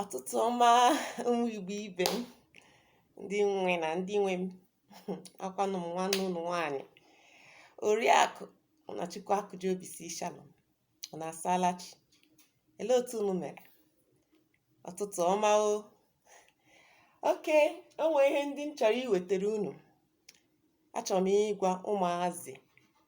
ọtụtụ ọma ụmụ Igbo ibe m ndị nwe na ndị nwe m akwanụ m nwanne unu nwaanyị oriakụ Ụnachukwu Akụji Obi si Shalom unu asaala chi elee otu unu mere ọtụtụ ọma o okay o nwee ihe ndị m chọrọ iwetara unu achọrọ m ịgwa ụmụazị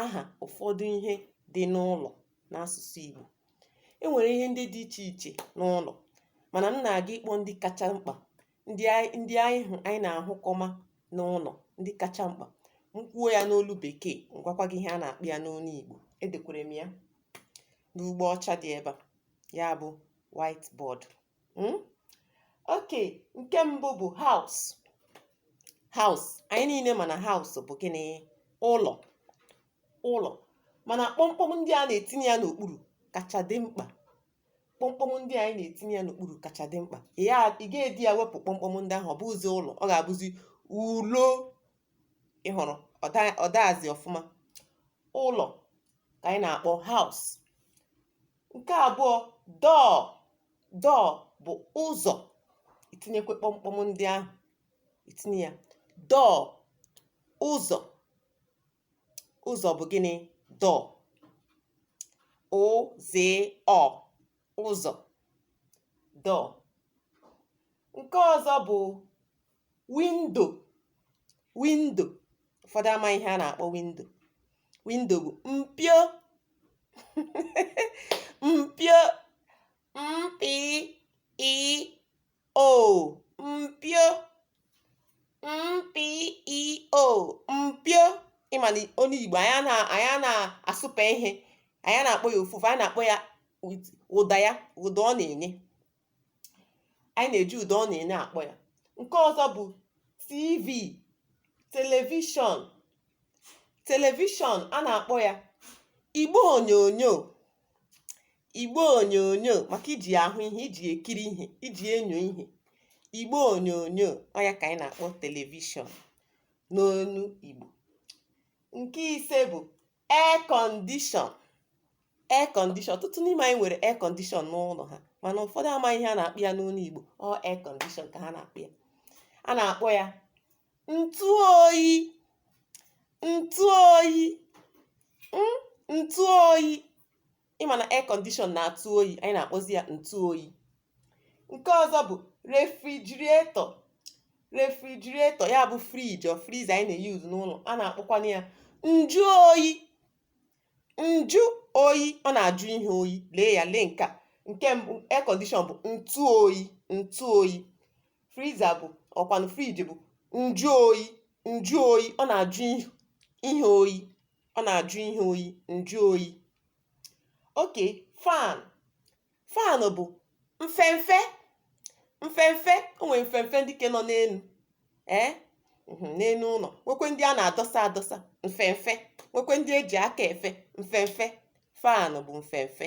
aha ụfọdụ ihe dị n'ụlọ n'asụsụ Igbo e nwere ihe ndị dị iche iche n'ụlọ mana m na-aga ịkpọ ndị kacha mkpa ndị anyị ndị anyị hụ anyị na-ahụkọma n'ụlọ ndị kacha mkpa m kwuo ya n'olu bekee m gwakwa gị ihe a na-akpọ ya n'olu Igbo edekwere m ya n'ugbo ọcha dị ebe a ya bụ whiteboard Hmm? Okay, nke mbụ bụ house. House. Anyị niile ma na house bụ gịnị? Ụlọ. Ụlọ. Mana kpọmkpọm ndị a na-etinye ya n'okpuru kacha dị mkpa. Kpọmkpọm ndị anyị na-etinye ya n'okpuru kacha dị mkpa. Ị ya ị ga-ede ya wepụ kpọmkpọm ndị ahụ ọ bụzi ụlọ ọ ga-abụzi ulo ị hụrụ ọ daghịzi ọfụma. Ụlọ ka anyị na-akpọ house. Nke abụọ, door. Door bụ ụzọ. I tinyekwe kpọmkpọm ndị ahụ. I tinye ya. Door, ụzọ. Ụzọ bụ gịnị? Door. Ụ Z Ọ. Ụzọ. Door. Nke ọzọ bụ window window ụfọdụ amaghị ihe a na-akpọ window window bụ mpio mpio m p i o mpio m p i o mpio ị ma na onye Igbo anyị na anyị na-asụpe ihe anyị na-akpọ ya ofufe anyị na-akpọ ya ụda ya ụda ọ na-enye anyị na-eji ụda ọ na-enye akpọ ya nke ọzọ bụ tv television television a na-akpọ ya igbe onyonyo igbe onyonyo maka iji ya ahụ ihe iji ya ekiri ihe iji ya enyo ihe igbe onyonyo ọ ya ka anyị na-akpọ television n'onu igbo nke ise bụ air condition air condition ọtụtụ n'ime anyị nwere air condition n'ụlọ ha mana ụfọdụ amaghị ihe a na-akpọ ya n'olu Igbo ọ air condition ka ha na-akpọ ya a na-akpọ ya ntụ oyi ntụ oyi mm, ntụ oyi ịma na air condition na-atụ oyi anyị na-akpọzi ya ntụ oyi nke ọzọ bụ refrigerator refrigerator ya bụ fridge or freezer anyị na-use n'ụlọ a na-akpọkwana ya njụ oyi njụ oyi ọ na-ajụ ihe oyi lee ya lee nke a nke mbụ air condition bụ ntụ oyi ntụ oyi freezer bụ ọkwanụ fridge bụ njụ oyi njụ oyi ọ na-ajụ ihe oyi ọ na-ajụ ihe oyi njụ oyi okay fan fan bụ mfemfe mfemfe o nwere mfemfe ndị ke nọ n'elu ee mhm, n'elu ụlọ nwekwe ndị a na-adọsa adọsa mfemfe nwekwe ndị eji aka efe mfemfe fan bụ mfemfe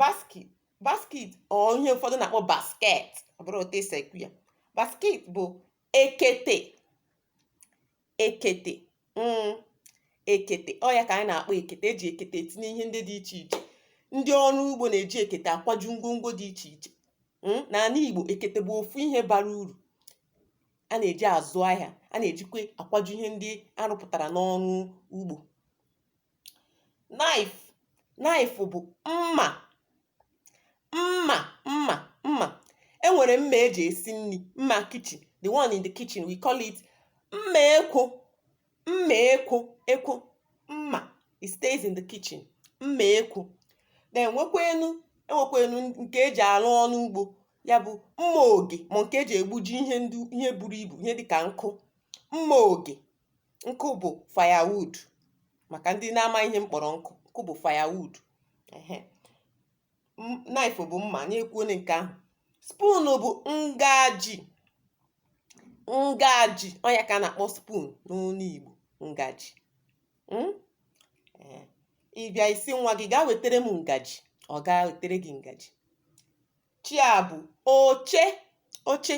basket basket or ihe ụfọdụ na-akpọ basket ọ bụrụ otu esi ekwu ya basket bụ ekete ekete mm, ekete ọ ya ka anyị na-akpọ ekete eji ekete etinye ihe ndị dị iche iche ndị ọrụ ugbo na-eji ekete akwaju ngwongwo dị iche iche mm, n'ala Igbo ekete bụ ofu ihe bara uru a na-eji azụ ahịa a na-ejikwa akwaju ihe ndị arụpụtara n'ọrụ ugbo knife knife bụ mma mma mma mma e nwere mma eji esi nri mma kitchen the one in the kitchen we call it mma ekwu mma ekwu ekwu mma it stays in the kitchen mma ekwu then nwekwenu enwekwenu nke eji arụ ọrụ ugbo ya bụ mma oge ma nke eji egbuji ihe ndị ihe buru ibu ihe dịka nkụ mma oge Nkụ bụ firewood maka ndị na-ama ihe m kpọrọ nkụ, nkụ bụ firewood. Ehe. M- Knife bụ mma, anyị ekwuona nke ahụ. Spoon bụ ngaji. Ngaji, ọ ya ka a na-akpọ spoon n'onu Igbo, ngaji. Mm? Ee. Ị bịa ị sị nwa gị gaa wetere m ngaji, ọ gaa wetere gị ngaji. chair bụ oche oche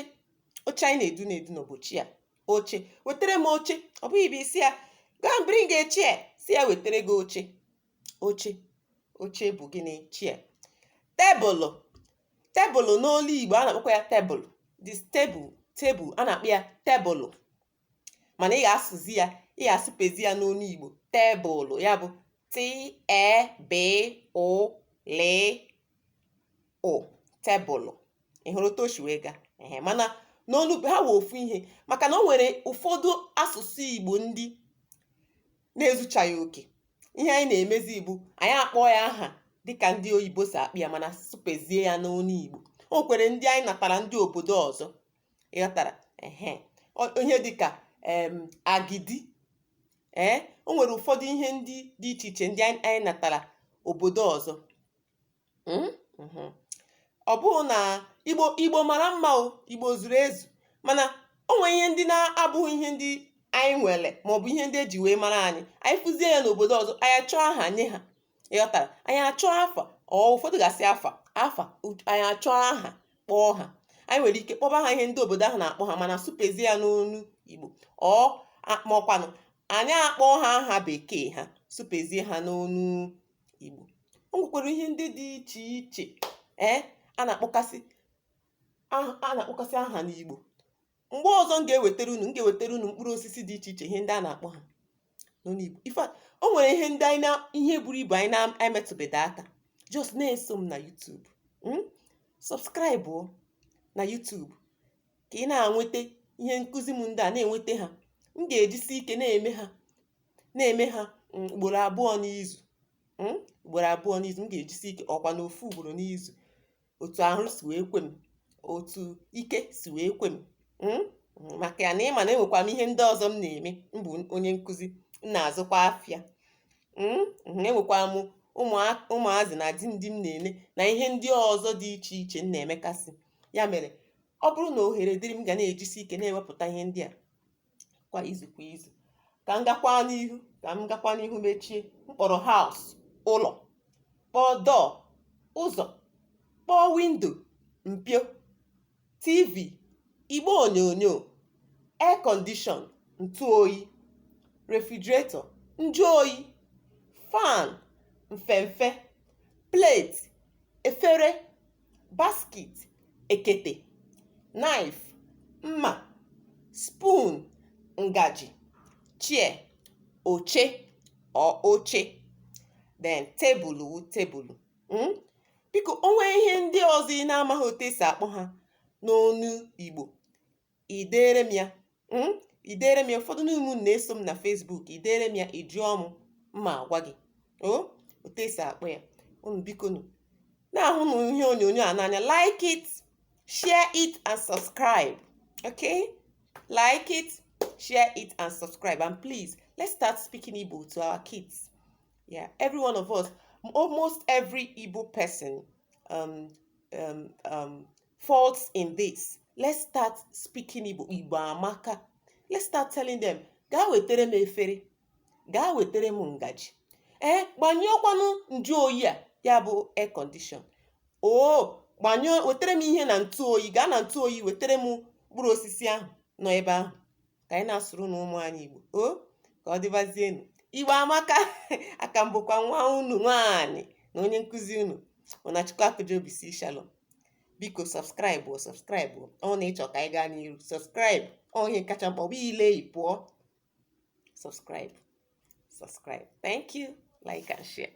oche anyị na-edu na-edu nụ bụ chair oche wetere m oche ọ bụghị bụ ị sị ya go and bring a chair sị ya wetere gị oche oche oche bụ gịnị chair tebụlụ tebụlụ n'olu igbo a na-akpọkwa ya tebụlụ this table table a na-akpọ ya tebụlụ mana ị ga-asụzi ya ị ga-asụpezi ya n'onu Igbo tebụlụ ya bụ t-e-b-ụ-l-ụ tebụlụ ị hụrụ otu o si wee gaa ehe mana n'olu ha wee ofu ihe maka na o nwere ụfọdụ asụsụ Igbo ndị na-ezuchaghị oke ihe anyị na-emezi bụ anyị akpọọ ya aha dịka ndị oyibo si akpọ ya mana sụpezie ya n'onu Igbo o nwekwere ndị anyị natara ndị obodo ọzọ ị ghọtara ehe Ọ- ihe dịka em agidi ee o nwere ụfọdụ ihe ndị dị iche iche ndị anyị anyị natara obodo ọzọ Mm? Mhm. ọ bụghị na igbo igbo mara mma o igbo zuru ezu mana o nwere ihe ndị na-abụghị ihe ndị anyị nwere maọbụ ihe ndị eji wee mara anyị anyị fụzie ya n'obodo ọzọ anyị achọọ aha nye ha ịghọtara anyị achọọ afa or ụfọdụ ga-asị afa afa u- anyị achọọ aha kpọọ ha anyị nwere ike kpọba ha ihe ndị obodo ahụ na-akpọ ha mana sụpezie ya n'ọnụ igbo or ma ọkwanụ anyị akpọọ ha aha bekee ha sụpezie ha n'ọnụ igbo o nwekwara ihe ndị dị iche iche ee a na-akpọkasị aha- a na-akpọkasị aha n'igbo mgbe ọzọ m ga-ewetara unu m ga-ewetara unu mkpụrụ osisi dị iche iche ihe ndị a na-akpọ ha n'ọnụ Igbo ife a- o nwere ihe ndị anyị na ihe buru ibu anyị na-emetụbeghị aka just na-eso m na YouTube mm? subscribe o na YouTube ka ị na-enweta ihe nkụzi m ndị a na-enweta ha m ga-ejisi ike na-eme ha na-eme ha mm, ugboro abụọ n'izu mm, ugboro abụọ n'izu m ga-ejisi ike ọkwanụ ofu ugboro n'izu otu ahụ si wee kwe m otu ike si wee kwe m hmm? maka na ịma na enwekwa m ihe ndị ọzọ m na-eme m bụ onye nkụzi m na-azụkwa afịa hmm? enwekwa m ụmụazị na di ndị m na-ene na ihe ndị ọzọ dị iche iche m na-emekasị ya mere ọ bụrụ na ohere dịrị m ga na-ejisi ike na-ewepụta ihe ndị a kwa izu kwa izu ka m gakwa n'ihu ka m gakwa n'ihu mechie m kpọrọ house ụlọ kpọọ door ụzọ kpọọ window mpio tv igbe onyonyo air condition ntụ oyi refrigerator njụ oyi fan mfemfe plate efere basket ekete knife mma spoon ngaji chair oche or oche then tebụlụ tebụlụ hmm? biko o nwee ihe ndị ọzọ ị na-amaghị otu esi akpọ ha n'ọnụ Igbo i deere m ya mm, i deere m ya ụfọdụ n'ime unu na-eso m na Facebook i deere m ya ị jụọ m m ma agwa gị o otu esi akpọ ya unu biko nụ na-ahụnụ ihe onyonyo a n'anya like it share it and subscribe okay like it share it and subscribe and please let's start speaking Igbo to our kids yeah every one of us almost every Igbo person um, um, um, faults in this. Let's start speaking Igbo. Igbo amaka. Let's start telling them, gaa wetere m efere, gaa wetere m ngaji. Ee, gbanyụọkwanụ njụ oyi a, ya bụ air condition. Oo, wetere m ihe na ntụ oyi, gaa na ntụ oyi wetere m mkpụrụ osisi ahụ nọ ebe ahụ. ka anyị na-asụrụnụ ụmụ anyị Igbo o ka ọ dịbazienụ Igbo amaka a ka m bụkwa nwa unu nwaanyị na onye nkụzi unu Munachukwu Akujobi sị shalom biko subscribe subscribe ọ na ị chọọ ka anyị gaa n'iru subscribe ọ ihe kacha mkpa ọ bụ i lee ị pụọ subscribe subscribe thank you like and share